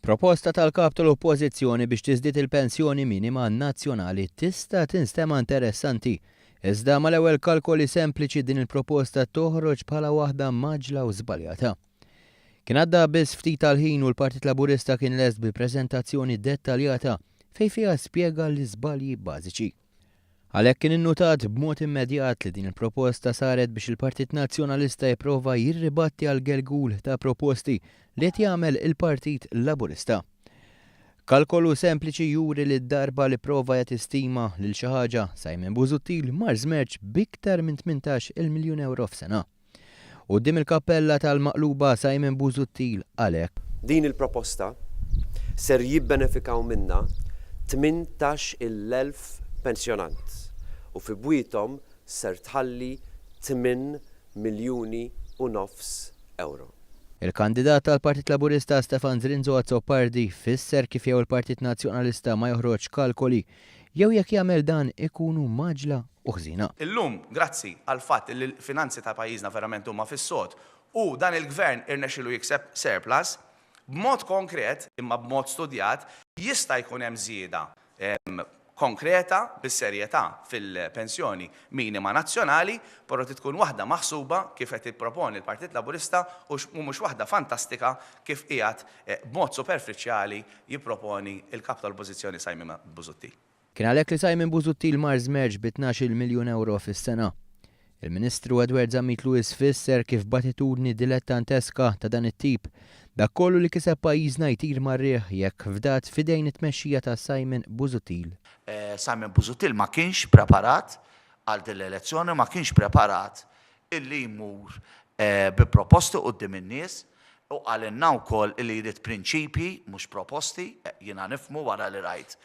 Proposta tal-Kap tal-Oppożizzjoni biex tiżdied il-pensjoni minima nazzjonali tista' tinstema' interessanti, iżda mal-ewwel kalkoli sempliċi din il-proposta toħroġ bħala waħda mgħaġġla u żbaljata. Kien għadda biss ftit tal-ħin u l-Partit Laburista kien lest bi preżentazzjoni dettaljata fejn fiha spjega l-iżbalji bażiċi. Għalhekk kien innutat b'mod immedjat li din il-proposta saret biex il-Partit Nazzjonalista jipprova jirribatti għal gergul ta' proposti li qed jagħmel il-Partit Laburista. Kalkolu sempliċi juri li d-darba li pprova jagħti stima lil xi ħaġa, Simon Busuttil mar żmerġ b'iktar minn tmintax-il miljun ewro f'sena. Quddiem il-kappella tal-Maqluba Simon Busuttil qal hekk. Din il-proposta ser jibbenefikaw minnha tmintax il elf pensjonant u fi bwiethom ser tħalli tmien miljuni u nofs ewro. Il-kandidat tal-Partit Laburista Stefan Zrinzo Azzopardi fisser kif jew il-Partit Nazzjonalista ma joħroġx kalkoli Jew jekk jagħmel dan ikunu mgħaġġla u ħżiena. Illum, grazzi għall-fatt li l-finanzi ta' pajjiżna verament huma fis-sod u dan il-Gvern irnexxielu jikseb surplus, b'mod konkret, imma b'mod studjat, jista' jkun hemm żieda konkreta bis-serjetà fil-pensjoni minima nazzjonali, però trid tkun waħda maħsuba kif qed jipproponi l-Partit Laburista u mhux waħda fantastika kif qiegħed b'mod superfiċjali jipproponi l-Kap tal-Oppożizzjoni Simon Busuttil. Kien għalhekk li Simon Busuttil mar żmerġ bi tnax-il miljun ewro fis-sena. Il-Ministru Edward Zammit Lewis fisser kif b'attitudni dilettanteska ta' dan it-tip, dak kollu li kiseb pajjiżna jtir mar-riħ jekk fdat f'idejn it-tmexxija ta' Simon Busuttil. Simon Busuttil ma kienx preparat għal din l-elezzjoni, ma kienx preparat illi jmur bi proposti quddiem in-nies u qalilna wkoll illi jrid prinċipji mhux proposti, jiena nifhmu wara li rajt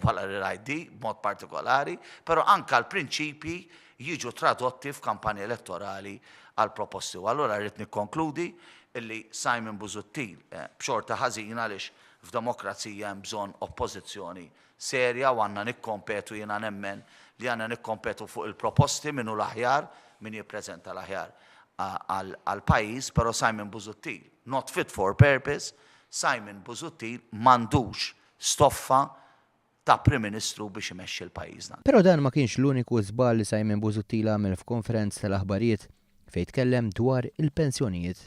wara li rajt di b'mod partikolari, però anke l-prinċipji jiġu tradotti f'kampanja elettorali għal proposti. U allura rrid nikkonkludi illi Simon Busuttil b'xorta ħażina għaliex f'demokrazija hemm bżonn oppożizzjoni serja u għandna nikkompetu, jiena nemmen li għandna nikkompetu fuq il-proposti min hu l-aħjar, min jippreżenta l-aħjar għall-pajjiż, però Simon Busuttil, not fit for purpose, Simon Busuttil m'għandux stoffa ta' Prim Ministru biex imexxi l-pajjiż dan. Però dan ma kienx l-uniku żball li Simon Busuttil għamel f'konferenza tal-aħbarijiet fejn tkellem dwar il-pensjonijiet.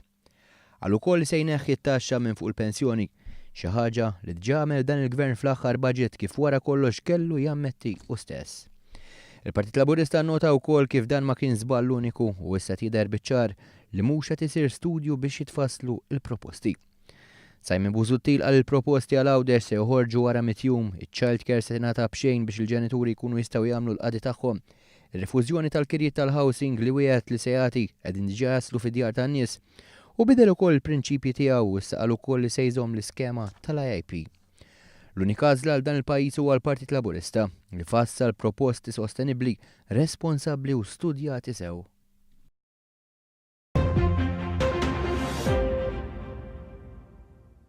Qal ukoll li se jneħħi t-taxxa minn fuq il-pensjoni, xi ħaġa li dġa għamel dan il-Gvern fl-aħħar budget kif wara kollox kellu jammetti hu stess. Il-Partit Laburista nnota wkoll kif dan ma kien żball uniku u issa qed jidher biċ-ċar li mhux qed isir studju biex jitfasslu l-proposti. Simon Busuttil qal li l-proposti għal Għawdex se joħorġu wara mitt jum, iċ-childcare se tingħata b'xejn biex il-ġenituri jkunu jistgħu jagħmlu l-qadi tagħhom Ir-rifużjoni tal-kirjiet tal-housing li wiegħed li se jagħti, qegħdin diġà jaslu fid-djar tan-nies. Hu bidel ukoll il-prinċipji tiegħu u issa qal ukoll li se jżomm l-iskema tal-IIP. L-unika għażla għal dan il-pajjiż huwa l-Partit Laburista, li fassal proposti sostenibbli, responsabbli u studjati sew.